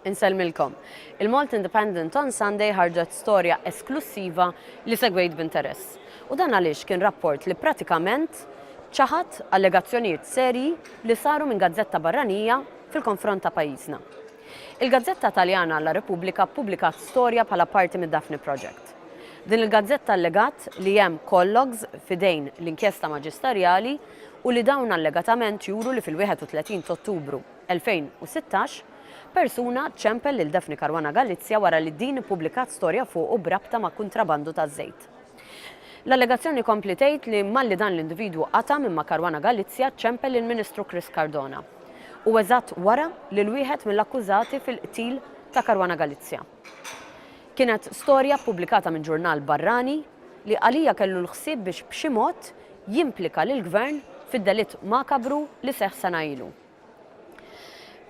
Insellmilkom. Il-Malta Independent on Sunday ħarġet storja esklussiva li segwejt b'interess. U dan għaliex kien rapport li pratikament ċaħad allegazzjonijiet serji li saru minn gazzetta barranija fil-konfront ta' pajjiżna. Il-gazzetta Taljana La Repubblica ppubblikat storja bħala parti mid-Daphne Project. Din il-gazzetta allegat li hemm call logs f'idejn l-inkjesta maġistarjali u li dawn allegatament juru li fil-31 t'Ottubru, 2016, persuna ċempel lil Daphne Caruana Galizia wara li din ippubblikat storja fuqu b'rabta ma' kuntrabandu taż-żejt. L-allegazzjoni tkompli tgħid li malli dan l-individwu qata' minn ma' Caruana Galizia ċempel lill-Ministru Chris Cardona. U eżatt wara lil wieħed mill-akkużati fil-qtil ta' Caruana Galizia. Kienet storja ppubblikata minn ġurnal barrani li għalija kellu l-ħsieb biex b'xi mod jimplika lill-Gvern fid-delitt makabru li seħħ sena ilu.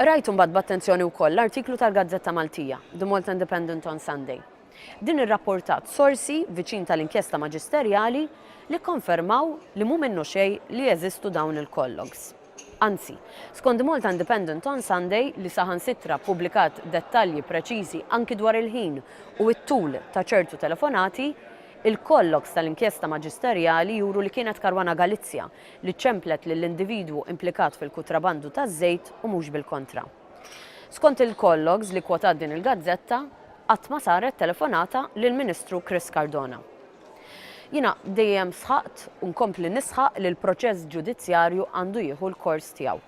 Qrajt imbagħad b'attenzjoni wkoll l-artiklu tal-gazzetta Maltija, The Malta Independent on Sunday. Din irrapportat sorsi viċin tal-inkjesta maġisterjali li kkonfermaw li mhu minnu xejn li jeżistu dawn il-collogs. Anzi, skont The Malta Independent on Sunday li saħansitra ppubblikat dettalji preċiżi anki dwar il-ħin u t-tul ta' ċertu telefonati, il-collogs tal-inkjesta maġisterjali juru li kienet Caruana Galizia li ċċemplet lill-individwu implikat fil-kutrabandu taż-żejt u mhux bil-kontra. Skont il-call logs li kkwotat din il-gazzetta, qatt ma saret telefonata lill-Ministru Chris Cardona. Jiena dejjem sħaqt u nkompli nisħaq li l-proċess ġudizzjarju għandu jieħu l-kors tiegħu.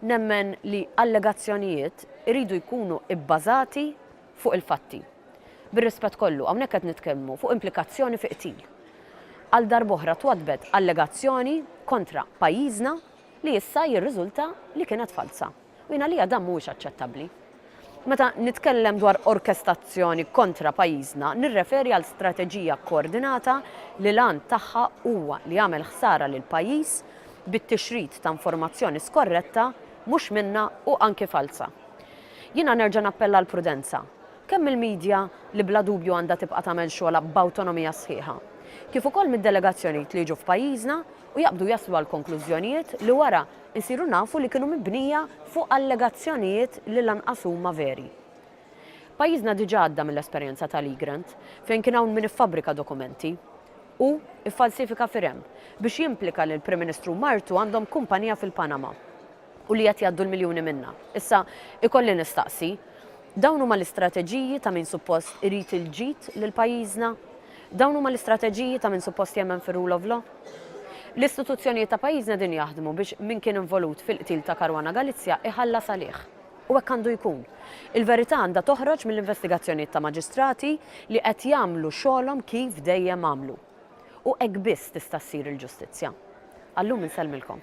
Nemmen li allegazzjonijiet iridu jkunu bbażati fuq il-fatti. Bir-rispett kollu, hawnhekk qed nitkellmu fuq implikazzjoni fi qtil. Għal darb'oħra twaddbet allegazzjoni kontra pajjiżna li issa jirriżulta li kienet falza. U jien għalija dan mhuwiex aċċettabbli. Meta nitkellem dwar orkestazzjoni kontra pajjiżna nirreferi għal strateġija kkoordinata li l-għan tagħha huwa li jagħmel ħsara lill-pajjiż bit-tixrid ta' informazzjoni skorretta, mhux minnha u anki falza. Jiena nerġa' nappella għall-prudenza, kemm mill-media li bla dubju għandha tibqa' tagħmel xogħolha b'awtonomija sħiħa, kif ukoll mid-delegazzjonijiet li jiġu f'pajjiżna u jaqbdu jaslu għal konklużjonijiet li wara nsiru nafu li kienu mibnija fuq allegazzjonijiet li lanqas huma veri. Pajjiżna diġà għadda mill-esperjenza ta' Legrand, fejn kien hawn min iffabbrika dokumenti, u iffalsifika firem, biex jimplika li l-Prim Ministru u martu għandhom kumpanija fil-Panama. u li qed jgħaddu l-miljuni minnha. Issa, ikolli nistaqsi, dawn huma l-istrateġiji ta' min suppost irid il-ġid lil pajjiżna? Dawn huma l-istrateġiji ta' min suppost jemmen fir-rule of law? L-istituzzjonijiet ta' pajjiżna qegħdin jaħdmu biex min kien involut fil-qtil ta' Caruana Galizia iħallas għalih. U hekk għandu jkun. Il-verità għandha toħroġ mill-investigazzjonijiet ta' maġistrati li qed jagħmlu xogħolhom kif dejjem għamlu. U hekk biss tista' ssir il-ġustizzja. Għal-lum insellmilkom.